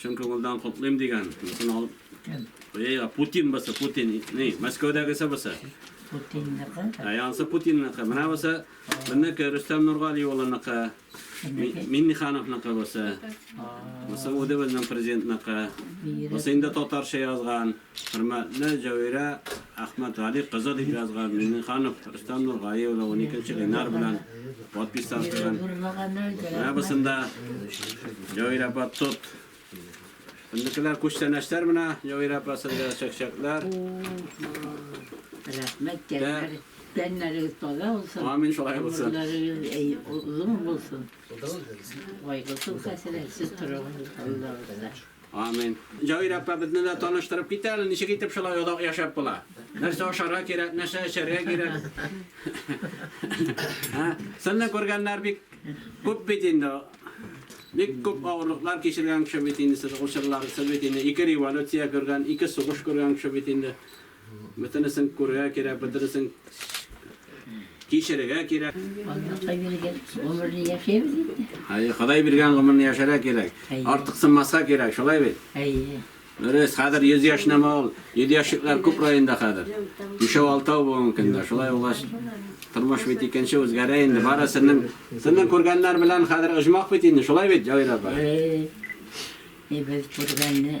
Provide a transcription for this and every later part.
Чын күңелдән котлыйм дигән. Мисен алып. Бәйгә Путин басы, Путин. Ни, Мәскәүдәгесе басы. Путинныкы. Ә янсы Путинныкы. Менә басы. Минеке Рөстәм Нургали улыныкы. Миннихановныкы басы. Басы үзе безнең президентныкы. Басы инде татарча язган. Хөрмәтле Җәвирә Әхмәтгали кызы дип язган Миңнеханов Рөстәм Нургали улы уникенче Ленар белән подписьтан куйган. Менә бусында Җәвирә апа тот. Безнекеләр күчтәнәчләр менә Җәвирә апа сезгә чәкчәкләр. Рәхмәт тәннәр. Тәннәрегез таза булсын. Амин шулай булсын. Гомерләрегез озын булсын. Кайгысыз хәсрәтсез торыгыз Аллабызда. Амин. Җаир апа безне дә таныштырып кит әле, ничек итеп шулай озак яшәп була? Нәрсә ашарга кирәк, нәрсә эчәргә кирәк? Ә? Сезне күргәннәр бик күп бит инде. Бик күп авырлыклар кичергән кеше бит инде сез, ул чорлар сез бит инде ике революция күргән, ике сугыш күргән кеше бит инде. Бөтенесен күрергә кирәк, бөтенесен кичерергә кирәк. Аллаһка биргән гомерне яшәйбез инде. Әйе, Ходай биргән гомерне яшәргә кирәк. Әйе. Артыксынмаска кирәк, шулай бит? Әйе. Дөрес, хәзер 100 яшь нәмә ул? 100 яшьлекләр күп районда хәзер. Бишәү, алтау бу мөмкин дә. Шулай булгач, тормыш бит икенче үзгәрә инде. Бары сезнең сезнең күргәннәр белән хәзер оҗмах бит инде, шулай бит, Җавир апа? Әйе. Без күргәнне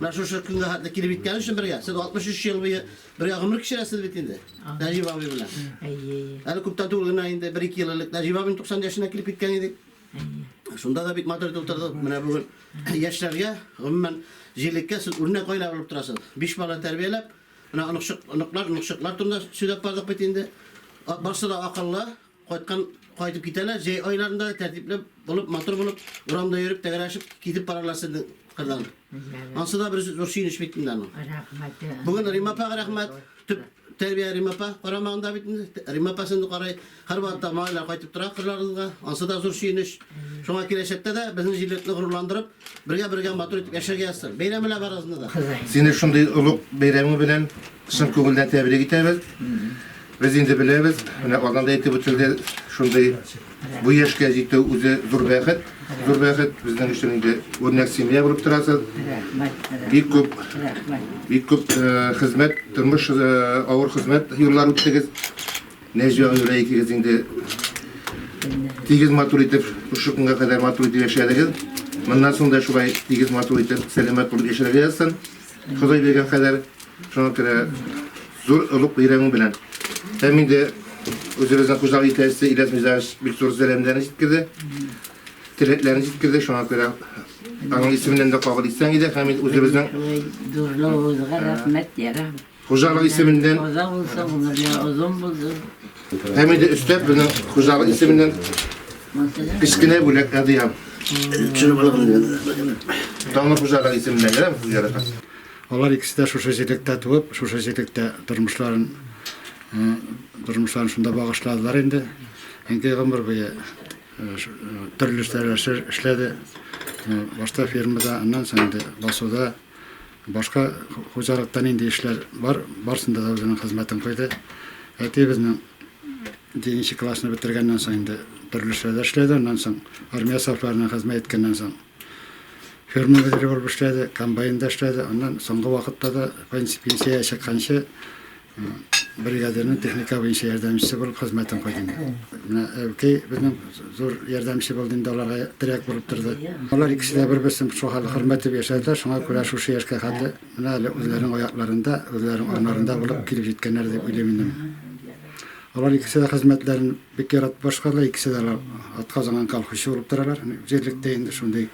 Менә шушы көнгә хәтле килеп җиткән өчен бергә. Сез 63 ел буе бергә гомер кичерәсез бит инде. Нәҗип абый белән. Әйе. Әле күптән түгел генә инде 1-2 ел элек Нәҗип абый 90 яшенә килеп киткән иде. Шунда да бик матур итеп утырдык. Менә бүген яшьләргә, гомумән, җилеккә сез үрнәк гаилә булып торасыз. Биш бала тәрбияләп, менә оныкчык, оныклар, оныкчыклар турында сөйләп бардык бит инде. Барсы да акыллы, Кайткан кайтып китәләр, җәй айларында да тәртипле булып, матур булып, урамда йөреп, тәгәрә ачып китеп баралар сезнең кырдан. Ансы да бер зур сөенеч бит инде аның. Рәхмәт. Бүген Рима апага рәхмәт. Төп тәрбия Рима апа карамагында бит инде. Рима апа сезне карый. Һәрвакытта малайлар кайтып тора кырларыгызга. Ансы да зур сөенеч. Шуңа киләчәктә дә безнең җирлекне горурландырып, Бергә бергә матур итеп яшәргә язсын. Бәйрәм белән барыгызны да. Сине шундый олуг бәйрәмең белән чын күңелдән тәбрик итәбез. Без инде беләбез, менә Казанда әйтеп үтелде, шундый бу яшькә җитү үзе зур бәхет, зур бәхет. Безнең өчен инде үрнәк семья булып торасыз. Бик күп, бик күп э, хезмәт, тормыш э, авыр хезмәт юллар үттегез. Нәҗия Гөлия икегез инде тигез матур итеп шушы көнгә кадәр матур итеп яшәдегез. Моннан соң да шулай тигез матур итеп сәламәт булып яшәргә язсын. Ходай биргән кадәр шуңа күрә зур олуг бәйрәмең белән. Һәм инде үзебезнең хуҗалык итәсе Иләс Мизаевич бик зур сәламнәрен җиткерде. Теләкләрен җиткерде. Шуңа күрә аның исеменнән дә кабул итсәң иде һәм үзебезнең Дурновыгызга рәхмәт, ярам. Хуҗалык исеменнән. Каза булса, гомер я озын булды. Һәм инде өстәп безнең хуҗалык исеменнән кечкенә бүләк әдиям. Чын булган. Данлы хуҗалык исеменнән генә хуҗалык. Алар икесе дә шушы җирлектә туып, шушы җирлектә тормышларын тормышларын шунда багышладылар инде. Әнкәй гомер буе төрле эшләр эшләде. Башта фермада, аннан соң инде басуда Башка хуҗалыкта нинди эшләр бар, барсында да үзенең хезмәтен куйды. Әтиебезнең җиденче классны бетергәннән соң инде төрле эшләрдә эшләде. Аннан соң армия сафларына хезмәт иткәннән соң ферма мөдире булып эшләде, комбайнда эшләде. Аннан соңгы вакытта да пенсиягә чыкканчы Бригадирның техника буенча ярдәмчесе булып хезмәтен куйды инде. Менә Әүкәй безнең зур ярдәмче булды инде, аларга терәк булып торды. Алар икесе дә бер-берсен шул хәл хөрмәт итеп яшәделәр, шуңа күрә шушы яшькә хәтле менә әле үзләренең аякларында, үзләренең анарында булып килеп җиткәннәр дип уйлыйм инде. Алар икесе дә хезмәтләрен бик яратып башкардылар, икесе дә алар атказанган колхозчы булып торалар. Җирлектә инде шундый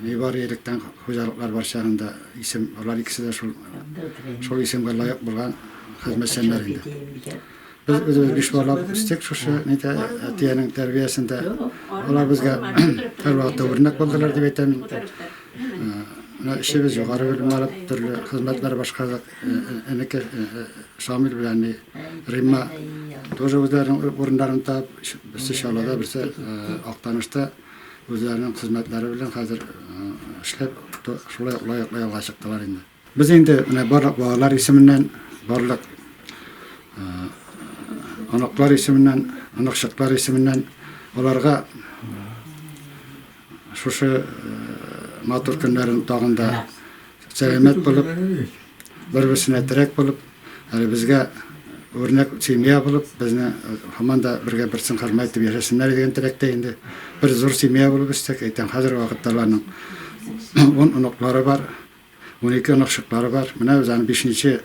Нибары электән хуҗалыклар бар чагында исем, алар икесе дә шул шул исемгә лаек булган хезмәтчәннәр инде. Без үзебез биш бала үстек шушы нидә әтиянең тәрбиясендә. Алар безгә һәрвакытта үрнәк булдылар дип әйтәм. Менә эшебез югары белем алып, төрле хезмәтләр башкардык. Энекәш Шамил белән Римма тоже үзләренең урыннарын табып, берсе Чаллыда, берсе Актанышта үзләренең хезмәтләре белән хәзер эшләп, шулай лаеклы ялга чыктылар инде. Без инде менә барлык балалар исеменнән, барлык оныклар исеменнән, оныкчыклар исеменнән аларга Шушы матур көннәрен тагын да сәламәт булып, бер-берсенә терәк булып, әле безгә үрнәк семья булып, безне һаман да бергә берсен хөрмәт итеп яшәсеннәр дигән теләктә инде. Бер зур семья булып үстек. Әйтәм, хәзерге вакытта аларның он оныклары бар. Унике оныкчыклары бар. Менә без аны бишенче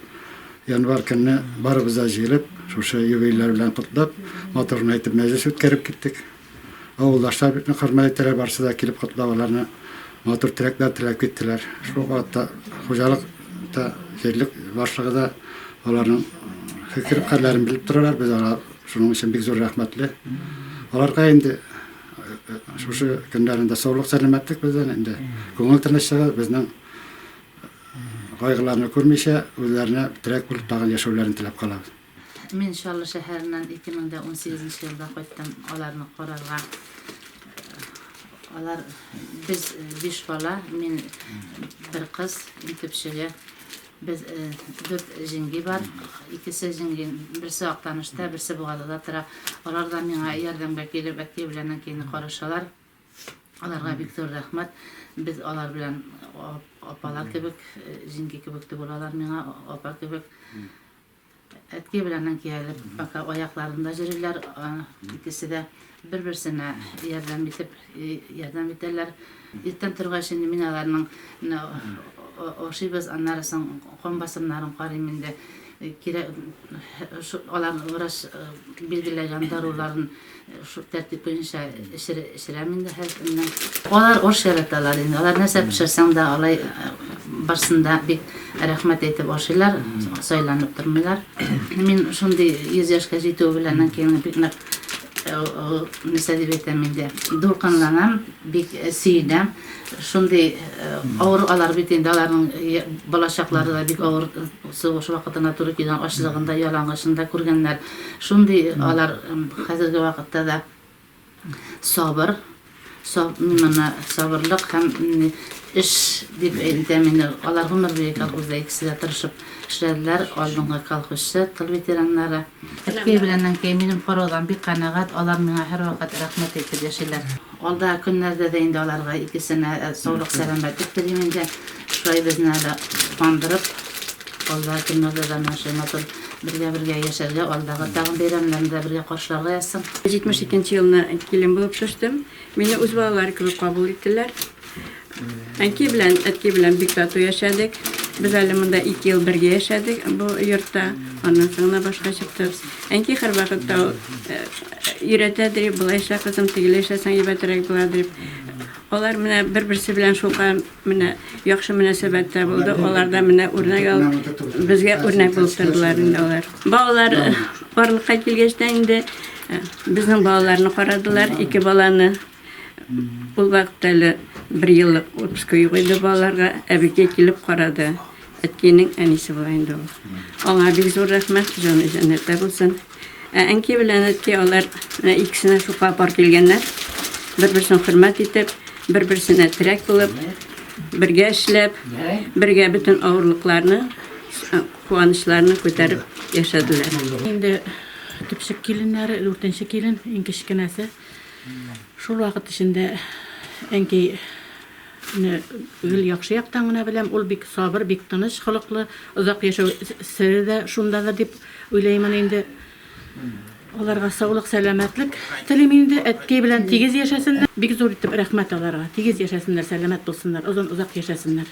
январь көнне барыбыз да җыелып, шушы юбилейлар белән котлап, матур гына итеп мәҗлес үткәреп киттек. Авылдашлар бик нык хөрмәт итәләр, барысы да килеп котлап аларны матур теләкләр теләп киттеләр. Шул вакытта хуҗалык та, җирлек башлыгы да аларның фикер-хәлләрен белеп торалар. Без алар шуның өчен бик зур рәхмәтле. Аларга инде Шушы көннәрендә саулык сәламәтлек бездән инде. Күңел тынычлыгы безнең кайгыларны күрмичә, үзләренә терәк булып тагын яшәүләрен теләп калабыз. Мин Чаллы шәһәреннән 2018 елда кайттым аларны карарга. Алар без биш бала, мин бер кыз, иң төпчеге. Без дүрт җиңги бар. Икесе җиңги, берсе Актанышта, берсе Бугадада тора. Алар да миңа ярдәмгә килеп, әти белән әнкәйне карашалар. Аларга бик зур рәхмәт. Без алар белән апалар кебек, җиңги кебек түгел алар миңа, апа кебек. Әткәй белән әнкәй әле пока аякларында йөриләр, икесе дә бер-берсенә ярдәм итеп, ярдәм итәләр. Иртән торгач инде мин аларның менә ашыйбыз, аннары соң кан басымнарын карыйм инде. Кирәк, аларның врач билгеләгән даруларын Шул тәртип буенча эчерәм инде һәр көнне. Алар аш яраталар инде. Алар нәрсә пешерсәң дә, алай барсын да бик рәхмәт әйтеп ашыйлар, сайланып тормыйлар. Мин шундый 100 яшькә җитү белән инде бик нык нәрсә дип әйтәм инде, дулкынланам, бик сөенәм. Шундый авыр алар бит инде, аларның балачаклары да бик авыр сугыш вакытына туры килгән, ачлыгын да, ялангачлыгын да күргәннәр. Шундый алар хәзерге вакытта да сабыр, мына сабырлык һәм эш дип әйтәм инде. Алар гомер буе колхозда икесе дә тырышып эшләделәр. Алдынгы колхозчы, тыл ветераннары. Әткәй белән әнкәй минем караудан бик канәгать, алар миңа һәрвакыт рәхмәт әйтеп яшиләр. Алдагы көннәрдә дә инде аларга икесенә саулык-сәламәтлек телим инде. Шулай безне әле куандырып, алдагы көннәрдә дә менә шулай матур бергә-бергә яшәргә, алдагы тагын бәйрәмнәрне дә бергә каршыларга язсын. 72 нче елны килен булып төштем. Мине үз балалары кебек кабул иттеләр. Әнкәй белән әткәй белән бик тату яшәдек. Без әле монда 2 ел бергә яшәдек бу йортта. Аннан соң гына башка чыктык. Әнкәй һәрвакытта ул э, өйрәтә ди, булайча кызым, тигеләйчә саң ибәтерәк була дип. Алар менә бер-берсе белән шука менә яхшы мөнәсәбәттә булды. Аларда менә үрнәк ал, безгә үрнәк булып тордылар инде алар. Балалар барлыкка килгәч тә инде э, безнең балаларны карадылар, ике баланы. Ул вакытта әле бер еллык отпуска юк иде балаларга. Әбекәй килеп карады. Әткәйнең әнисе була инде ул. Аңа бик зур рәхмәт, җаны җәннәттә булсын. Ә әнкәй белән әткәй алар менә икесенә шука пар килгәннәр. Бер-берсен хөрмәт итеп, бер-берсенә терәк булып, бергә эшләп, бергә бөтен авырлыкларны, э, куанычларны күтәреп яшәделәр. Инде төпчек киленнәре, дүртенче килен, иң кечкенәсе. Шул вакыт эчендә әнкәйне гел яхшы яктан гына беләм. Ул бик сабыр, бик тыныч холыклы. Озак яшәү сере дә шундадыр дип уйлыймын инде. Аларга саулык, сәламәтлек телим инде. Әткәй белән тигез яшәсеннәр. Бик зур итеп рәхмәт аларга. Тигез яшәсеннәр, сәламәт булсыннар, озын, озак яшәсеннәр.